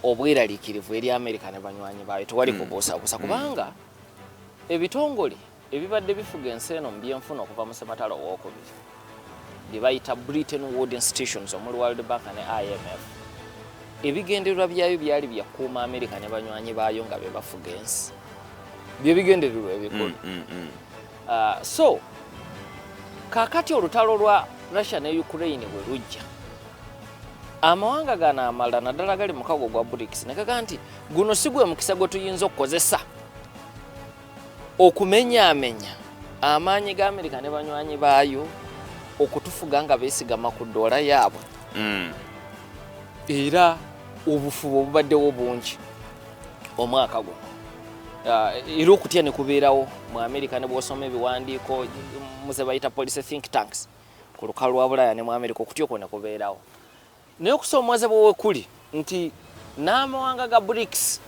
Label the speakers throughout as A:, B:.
A: obweraliikirivu eri amerika ne banywanyi baayo tewali hmm. kubuusabuusa hmm. kubanga ebitongole ebibadde bifuga ensi eno mu byenfuna okuva mu sematala owokubiri bye bayita britain wood institutions omuli world bank ne imf ebigendererwa byayo byali byakuuma amerika ne banywanyi baayo nga bebafuga ensi byebigendererwa ebikulu hmm, Uh, so kakati olutalo lwa Russia ne Ukraine bwe lujja amawanga gano amalala naddala gali mukago gwa BRICS nekaga nti guno si gwe mukisa gwe tuyinza okukozesa okumenyaamenya amaanyi ga Amerika ne banywanyi baayo okutufuga nga beesigama ku ddoola yaabwe mm. era obufubo obubaddewo bungi omwaka guno ah, era okutya ne kubeerawo mu amerika ne bwosoma ebiwandiiko muze bayita policy think tanks ku lukalu lwa bulaya ne mu amerika okutya okwo ne kubeerawo naye okusoomoozebwa wekuli nti n'amawanga ga brics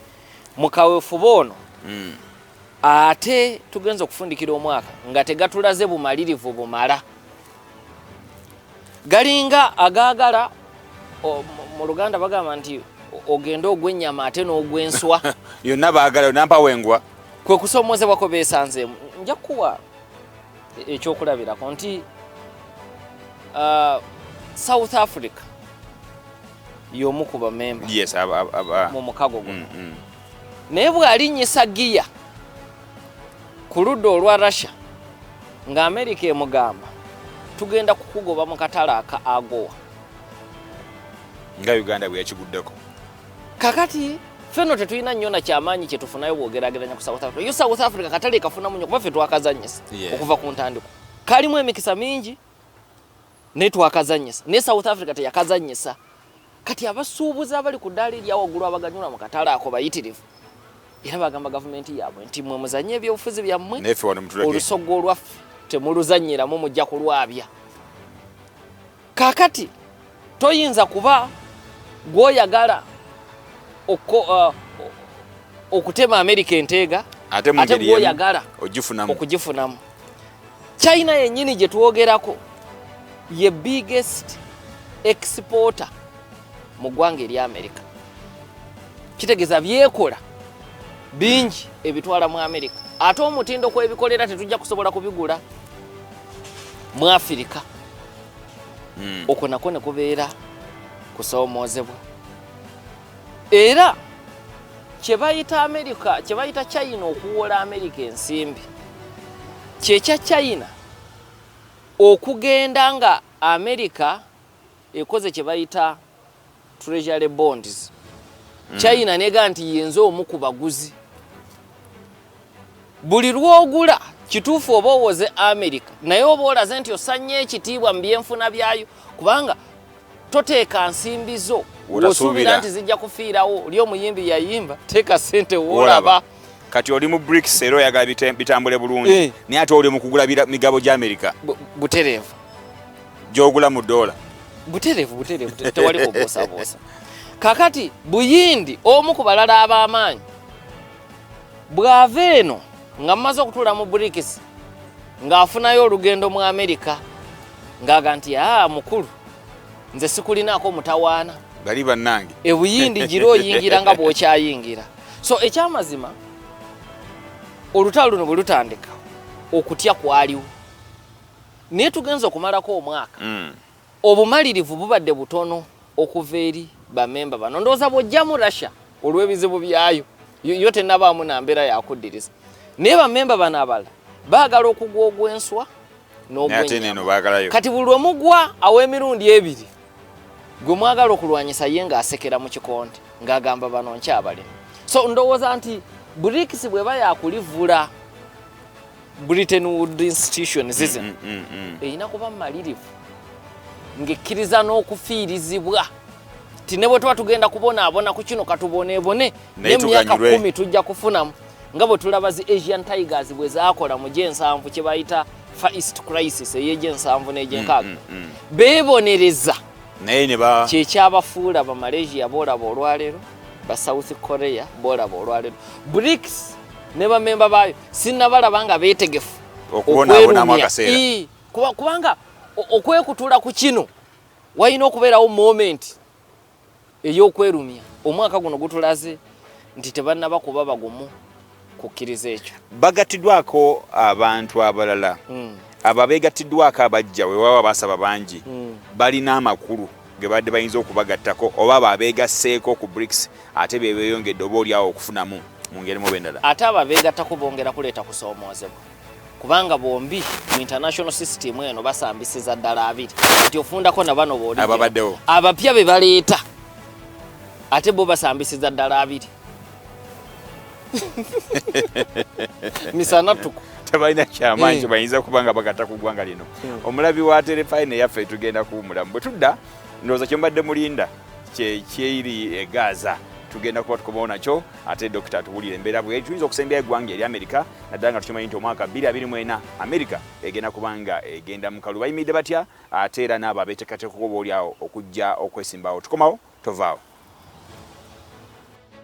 A: mu kaweefube ono hmm. ate tugenza okufundikira omwaka nga tegatulaze bumalirivu bumala galinga agaagala mu luganda bagamba nti ogende ogw'ennyama ate n'ogw'enswa yonna baagala
B: nampa wengwa kwe kusoomozebwa
A: kwe beesanzeemu nja kukuwa ekyokulabirako nti uh, south africa y'omu ku bamemba
B: mu mukago
A: guno mm, mm. naye bw'alinnyisa giya ku ludda olwa russia nga amerika emugamba tugenda kukugoba mu katale aka agowa
B: nga uganda bwe yakiguddeko kakati
A: feno tetulina nnyo na kyamaanyi kye tufunayo bwogerageranya ku south africa yo south africa katale kafunamu nnyo kuba ffe twakazanyisa okuva ku ntandiko kalimu emikisa mingi naye twakazanyisa naye south africa teyakazanyisa kati abasuubuzi abali ku ddaala eryawaggulu abaganyula mu katale ako bayitirivu era bagamba gavumenti yaabwe nti mwe muzanye ebyobufuzi byammwe olusoga olwaffe temuluzanyiramu mujja kulwabya kakati toyinza kuba gwoyagala uh, okutema amerika enteega ate gwoyagala okugifunamu china yennyini gye twogerako ye biggest exporter mu ggwanga eri amerika kitegeeza byekola bingi ebitwala mu amerika ate omutindo kwebikolera tetujja kusobola kubigula mu afirika hmm. okwo nako ne kubeera kusoomoozebwa era kyebayita amerika kyebayita china okuwola amerika ensimbi kyekya china okugenda nga amerika ekoze kyebayita treasury bonds hmm. china nega nti yenze omu ku baguzi buli lwogula kituufu oba owoze amerika naye oba olaze nti osanya ekitiibwa mu byenfuna byayo kubanga toteeka nsimbi zo osuubira nti zijja kufiirawo oli omuyimbi yayimba teeka sente wolaba kati oli mu
B: brics era oyagala bitambule bulungi eh. naye ate oli mukugula migabo gya amerika butereevu gyogula mu doola butereevu butereevu
A: tewali kubuusabuusa kakati buyindi omu ku balala ab'amaanyi bw'ava eno nga mumaze okutuula mu brikisi ng'afunayo olugendo mu amerika ng'aga nti aa mukulu nze sikulinaako mutawaana bali bannange
B: ebuyindi gira
A: oyingira nga bw'okyayingira so ekyamazima olutalo luno bwe lutandika okutya kwaliwo naye tugenza okumalako omwaka mm. Obumalirivu bubadde butono okuva eri bamemba bano. Ndowooza bw'oggyamu Russia olw'ebizibu byayo yo tennabaamu na mbeera yakuddiriza naye bamemba bano abalala baagala okugwa ogw'enswa n'ogwenyama. Kati buli lwe mugwa aw'emirundi ebiri gwe mwagala okulwanyisa ye ng'asekera mu kikonde ng'agamba bano nkyabalimu. So ndowooza nti BRICS bw'eba yakulivula Britain Wood Institutions ize mm, mm, mm, erina kuba malirivu ng'ekkiriza n'okufiirizibwa ti ne bwe tuba tugenda kubonaabona ku kino katuboneebone naye mu myaka kumi tujja kufunamu nga bwe tulaba zi asian tigers bwe zaakola mu gyensanvu kye bayita fa east crisis ey'egyensanvu n'egyenkaaga mm, mm, mm. beebonereza
B: kyekyabafuula
A: bamalaysia boolaba olwaleero ba south korea boolaba olwaleero brics ne bamemba baayo sinnabalaba nga beetegefu okubonaabonamu
B: akaseera kubanga
A: okwekutula ku kino walina okubeerawo momenti ey'okwerumya omwaka guno gutulaze nti tebannaba kuba bagumu kukkiriza ekyo bagattiddwako
B: abantu abalala hmm. abo abeegattiddwako abajja wewaba basaba bangi hmm. balina amakulu ge babadde bayinza okubagattako oba abo abeegasseeko ku BRICS ate be beeyongedde oba oli awo okufunamu mu ngeri mu bendala. Ate abo abeegattako
A: bongera kuleeta kusoomoozebwa kubanga bombi mu international system eno basambisiza ddala abiri nti ofundako na bano booli ababaddewo abapya
B: be baleeta
A: ate bo basambisiza ddala abiri. misana tuku tebalina kyamanyi
B: kyebayinza eh. kuba nga bagata ku ggwanga lino hmm. omulabi wa terefayina eyaffe tugenda kuwumulamu bwe tudda ndowooza kyembadde mulinda kyekyeri egaaza eh, tugenda kuba tukomawo nakyo ate dokita atuwulira embeera bwe tuyinza okusembya eggwanga eri amerika naddala nga tukimanyi nti omwaka 224 amerika egenda kubanga egenda mukalu bayimiridde batya ate era naabo abeetekateeka okuba olyawo okujja okwesimbawo tukomawo tovaawo